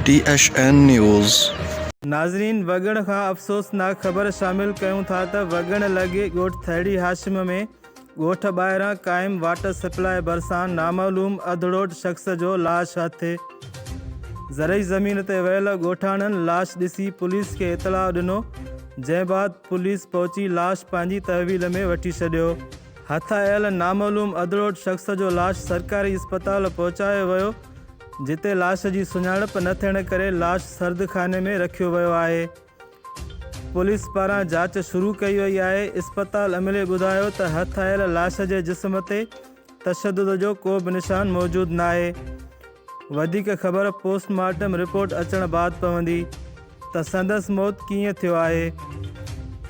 ٽي H N news. ناظرين وڳڻ کان افسوسناڪ خبر شامل ڪيون ٿا ته وڳڻ لڳي ڳوٺ ٿهڙي هاشم ۾ ڳوٺ ٻاهران قائم واٽر سپلاء ڀرسان نامعلوم اڌڙوٽ شخص جو لاش هٿ زرعي زمين تي ويل ڳوٺاڻن لاش ڏسي پوليس کي اطلاع ڏنو جنهن بعد پوليس پهچي لاش پنهنجي تحويل ۾ وٺي ڇڏيو. هٿايل نامعلوم اڌڙوٽ شخص جو لاش سرڪاري اسپتال پهچايو ويو، جتي لاش جي سڃاڻپ نه ٿيڻ ڪري لاش سردخاني ۾ رکيو ويو آهي. پوليس پاران جاچ شروع ڪئي وئي آهي. اسپتال عملي ٻڌايو ته هٿايل لاش جي جسم تي تشدد جو ڪو به نشان موجود ناهي، وڌيڪ خبر پوسٽ مارٽم رپورٽ اچڻ بعد پوندي ته سندس موت ڪيئن ٿيو آهي.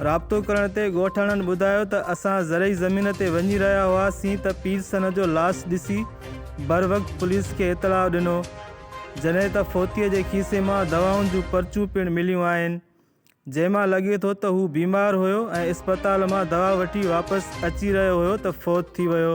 رابطو ڪرڻ تي ڳوٺاڻن ٻڌايو ته اسان زرعي زمين تي وڃي رهيا هئاسين ته پير سنه جو لاش ڏسي بروقت پوليس کي اطلاع ڏنو جڏهن ته فوتي جي کيسي مان دوائن جون پرچون پڻ مليون آهن. جنهن مان لڳي ٿو ته هو بيمار هيو ۽ اسپتال مان دوا وٺي واپس اچي رهيو هيو ته فوت ٿي ويو.